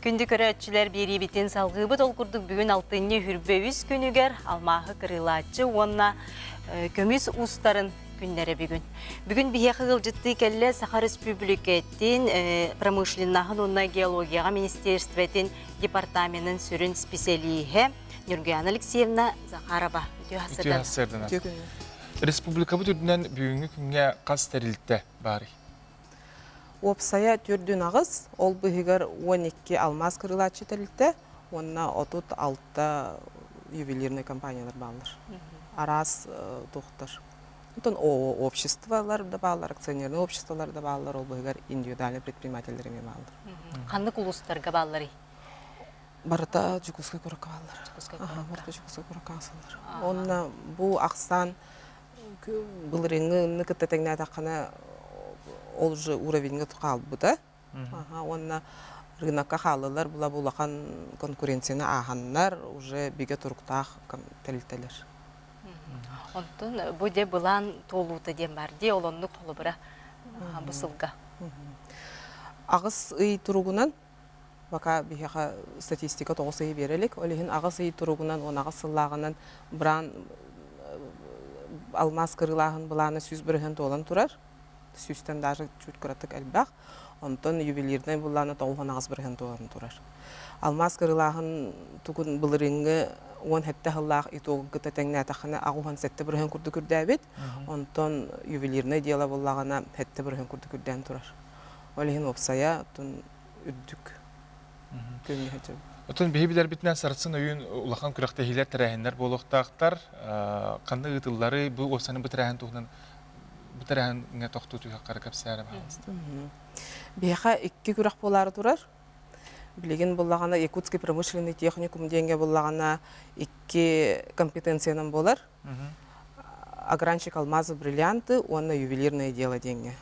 Күндү көрөөччүлэр биэриибитин салгыыбыт ол курдук бүгүн алтынньы үрбэ үс күнүгэр алмааһы кырыылааччы уонна көмүс уустарын күннэрэ бүгүн. Бүгүн биһиэхэ ыалдьыттыы кэллэ Саха Республикатын промышленнаһын уонна геологияҕа министерствотин департаменын сүрүн специалиһа Нюргуяна Алексеевна Захарова Республикабыт үрдүнэн бүгүҥҥү күҥҥэ хас тэрилтэ баарый? Уопсайа төрдүн аҕыс, ол быыһыгар уон икки алмаас кырылааччы тэрилтэ уонна отут алта ювелирнай компаниялар бааллар. Араас туохтар. Оттон обществолар да бааллар, акционернай обществолар да бааллар, ол быыһыгар индивидуальнай предпринимателлэр эмиэ бааллар. Ханнык улуустарга баалларый? Барыта Дьокуускай куоракка бааллар. Дьокуускай куоракка. Барыта Дьокуускай куоракка аасаллар. Уонна бу ахсаан былырыыҥҥы ынны кытта тэҥнээтэххинэ ол же уровеньга хаалбыта уонна рынокка хааллылар була бу улахан конкуренцияны ааһаннар уже бигэ туруктаах тэрилтэлэр онтон бу дьэ былаан туолуута диэн баар дии ол оннук холобура бу сылга аҕыс ый туругунан Пока биһиэхэ статистика тоҕус ыйы биэрэ илик. Ол иһин аҕыс ый туругунан уон аҕыс сыллааҕынан браан алмаас кырыылааһын былаана сүүс бырыһыан туолан турар. Сүүстэн даже чуть кыратык элбэх. Онтон ювелирнай былаана тоҕус уон аҕыс бырыһыан туолан турар. Алмаас кырыылааһын тугун былырыыҥҥы уон сэттэ сыллаах итогу кытта тэҥнээтэххинэ аҕыс уон сэттэ бырыһыан курдук үрдээбит. Онтон ювелирнай дьыала буллаҕына сэттэ бырыһыан курдук үрдээн турар. Ол иһин уопсайа оттон үрдүк күҥҥэ Оттон биһи билэрбитинэн сарсын өйүн улахан күрэхтэһиилэр тэрээһиннэр буолуохтаахтар. Ханна ыытыллары, бу уопсаны бу тэрээһин туһунан бу тэрээһиҥҥэ тохтуу түһэххэ кэпсээрэ Биһиэхэ икки күрэх буолаары турар. Билигин буллаҕына Якутский промышленный техникум диэнгэ буллаҕына икки компетенциянан буолар. Агранчик алмазы бриллианты уонна ювелирное дело диэҥҥэ.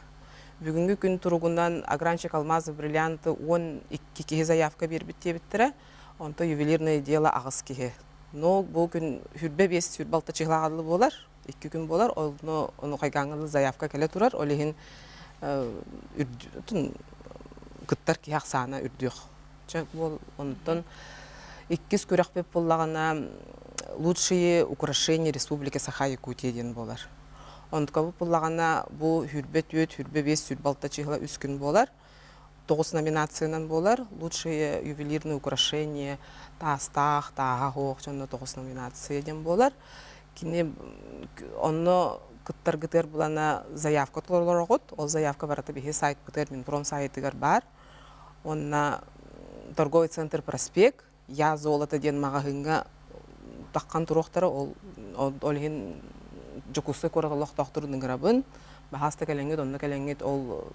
Бүгүҥҥү күн туругунан Агранчик алмазы бриллианты уон икки киһи заявка биэрбит диэбиттэрэ. Онто ювелирное дело аҕыс киһи. Но бу күн хүрбэ биэс сүр балта чыһылаҕаллы буолар, икки күн буолар, онно ону хайгааҥҥылы заявка кэлэ турар, ол иһин кыттар киһи ахсаана үрдүөх. Чэ уол онтон иккис күрөхпүт буллаҕына лучшие украшения республики Саха Якутия диэн буолар. Онтукабыт буллаҕына бу хүрбэ түөрт, хүрбэ биэс, сүр балта чыһыла үс күн буолар. Тоҕус номинациянан буолар. Лучшие ювелирные украшения таастаах, тааһа оһох дьонно тоҕус номинация диэн буолар. Кини онно кыттаргытыгар булана заявка толороргут. Ол заявка барыта биһи сайтпытыгар, Минпром саайтыгар баар. Онна торговый центр проспект Я золото диэн маҕаһыыҥҥа таххан туруохтара ол ол иһин Дьокуускай куорат олохтоохторун ыҥырабын баһааста кэлэҥҥит онно кэлэҥҥит ол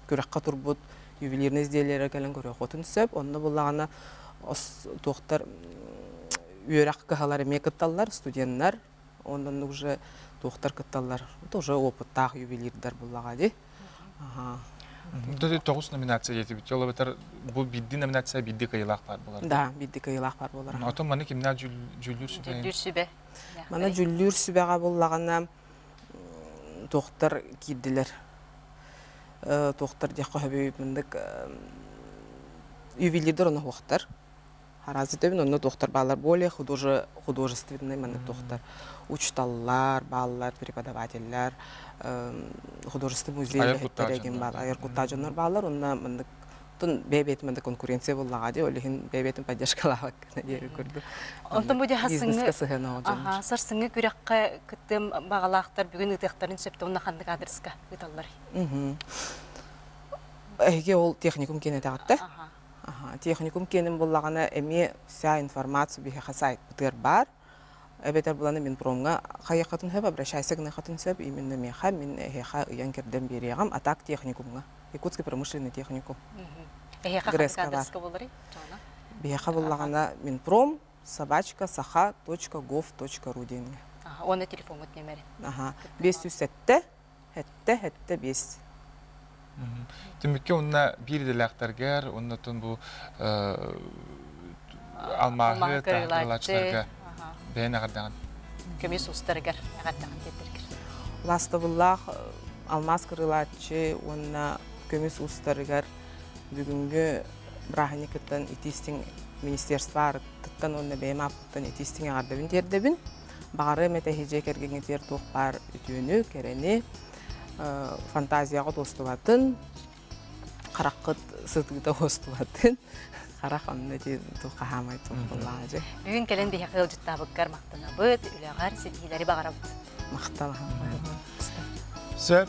күрэххэ турбут ювелирный изделиелары кэлэн көрүөххүтүн сөп онно буоллаҕына туохтар үөрэх кыһалар эмиэ кытталлар студеннар Оннук уже туохтар кытталлар тоже опыттаах ювелирдар буллаҕа ди. Тоҕус номинация диэтибит. Ол эбэтэр бу биирди номинация биирди кыйылаах баар болар. Да, биирди кыйылаах баар болар. Отон маны кимнаа жүллүүр сүбэ? Жүллүүр сүбэ. Мана жүллүүр сүбэҕэ буллаҕына туохтар киирдилэр. Туохтар диэх хоһөбүй мындык ювелирдер оноһуохтар. Развитыгын онно туохтар бааллар более художественнай маннык туохтар учталлар бааллар преподавателлэр художественный музей этэрэгин бааллар айар куттаах дьоннор бааллар онно маннык тун бэйбиэтин манна конкуренция буллаҕа дии ол иһин бэйбиэтин поддержкалаабак диэбит курдук онтон бу бизнеска сыһыанаа дьон сарсыҥҥы күрэххэ кыттыам баҕалаахтар бүгүн ыытыахтарын сөптө онно ханнык адреска ыыталлар эһиги ол техникум киэнэтэҕиттэ техникум киэним буллаҕына эмиэ вся информацию биһиэхэ сайтбытыгар баар эбэтэр буланы мин промҥа хайыаххытын сөп обращайся гыныаххытын сөп именно миэхэ мин эһиэхэ ыйан кэрдэн биэриэҕим а так техникумҥа якутский промышленный техникум эһиэхэ грэска буллари биһиэхэ буллаҕына мин пром собачка саха точка гов точка ру диэҥҥэ уонна телефоҥҥут нөмэрин аха бес сүүс сэттэ Эттэ-эттэ биэс. Түмүккэ уонна биир идэлээхтэргэр уонна тун бу алмааһы таарылааччыларга бэйэн эҕэрдэҕин. Көмүс устарыгар эҕэрдэҕин тиэрдэргэр. Лаастабыллаах алмаас кырылааччы уонна көмүс устарыгар бүгүҥҥү бырааһынньыкыттан итиистиҥ министерство аарыттыттан уонна бэйэм ааппыттан итиистиҥ эҕэрдэбин тиэрдэбин. Баҕарыам этэһи-дьиэ кэргэҥҥитигэр туох баар үтүөнү, кэрэни, фантазияҕыт уостубатын, хараххыт сытыыта уостубатын, харах онно ити туох хаһаамай тумпуллааҕа дьэ. Бүгүн кэлэн биһиэхэ ыалдьыттаабыккар махтанабыт, үлэҕэр ситиһиилэри баҕарабыт. Махталаһам. Сөп.